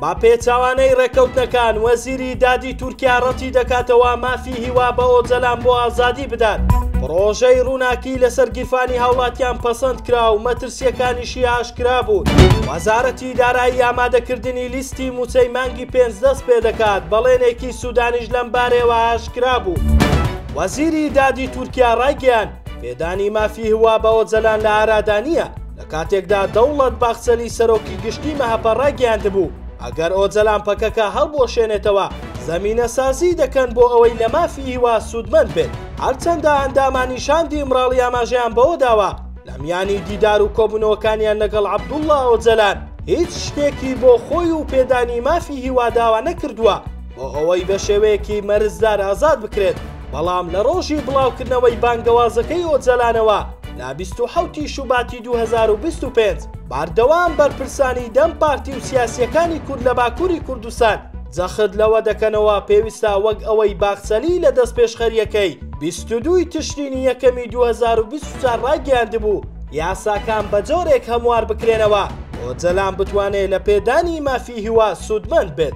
بە پێچوانەی ڕێکەوتنەکان وەزیری دادی تورکیا ڕەتی دەکاتەوە مافی هیوا بە ئۆجەلان بۆ ئازادی بدات پرۆژەی ڕووناکی لەسەر گیرفانی هاوڵاتیان پەسەند کرا و مەترسیەکانیشی ئاشکرا بوو وەزارەتی دارایی ئامادەکردنی لیستی موچەی مانگی پێنج دەست پێ دەکات بەڵێنێکی سوودانیش لەم بارەوە ئاشکرا بوو وەزیری دادی تورکیا ڕایگەیان پێدانی مافی هوا بە ئۆجەلان لە ئارادانە کاتێکدا دەوڵەت باخچەلی سەرۆکی گشتی مەهەپە ڕایگەیاندبوو، ئەگەر ئۆجەلان پەکەکە هەڵبوەشێنێتەوە، زەمینەسازیی دەکەن بۆ ئەوەی لە مافی هیوا سوودمەند بێت. هەرچەندە ئەندامانی شاندی ئیمراڵی ئاماژەیان بەوە داوە، لە میانی دیدار و کۆبوونەوەکانیان لەگەڵ عەبدوڵڵا ئۆجەلان، هیچ شتێکی بۆ خۆی و پێدانی مافی هیوا داوا نەکردووە، بۆ ئەوەی بە شێوەیەکی مەرزدار ئازاد بکرێت، بەڵام لە ڕۆژی بڵاوکردنەوەی بانگەوازەکەی ئۆجەلانەوە لە بیست و حەوت ی شوباتی دوو هەزار و بیست و پێنج، بەردەوام بەرپرسانی دەم پارتی و سیاسییەکانی کورد لە باکووری کوردستان جەخت لەوە دەکەنەوە پێویستە وەک ئەوەی باخچەلی لە دەستپێشخەرییەکەی بیست و دوو ی تشرینی یەکەمی دوو هەزار و بیست و چوار ڕایگەیاندبوو یاساکان بە جۆرێک هەموار بکرێنەوە ئۆجەلان بتوانێت لە پێدانی مافی هیوا سوودمەند بێت.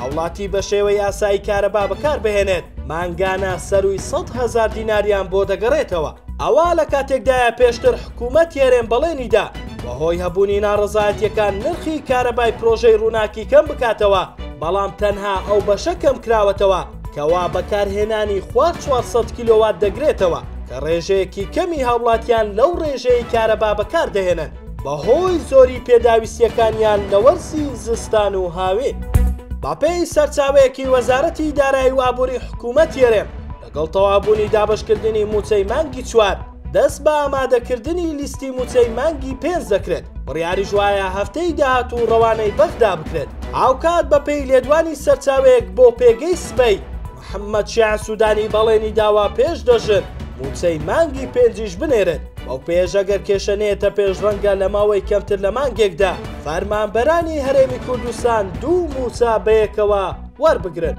هاوڵاتی بە شێوە یاسایی کارەبا بەکار بهێنێت مانگانە سەرووی سەد هەزار دیناریان بۆ دەگەڕێتەوە ئەوە لە کاتێکدایە پێشتر حکوومەت یارێن بەڵێنیدا بەهۆی هەبوونی ناڕزایەتەکان نرخی کارەبای پرۆژەی ڕووناکی کەم بکاتەوە بەڵام تەنها ئەو بەشە کەم کراوەتەوە کەوا بەکارهێنانی خوار 400 کیلۆوات دەگرێتەوە کە ڕێژەیەکی کەمی هاوڵاتیان لەو ڕێژەیە کارەبا بەکاردەهێنن. بەهۆی زۆری پێداویستییەکانیان لە وەرزی زستان و هاوین. بەپێی سەرچاوەیەکی وەزارەتی دارایی و ئابووری حکوومەتی هەرێم، لەگەڵ تەواوبوونی دابەشکردنی مووچەی مانگی چوار، دەست بە ئامادەکردنی لیستی مووچەی مانگی پێنج دەکرێت، بڕیاریش وایە هەفتەی داهاتوو ڕەوانەی بەغدا بکرێت. هاوکات بەپێی لێدوانی سەرچاوەیەک بۆ پێگەی سبەی، محەممەد شیاع سوودانی بەڵێنی داوە پێش دە ژن مووچەی مانگی پێنجیش بنێرن، بەو پێیەش ئەگەر کێشە نەیەتە پێش ڕەنگە لە ماوەی کەمتر لە مانگێکدا فەرمانبەرانی هەرێمی کوردستان دوو مووچە بەیەکەوە وەربگرن.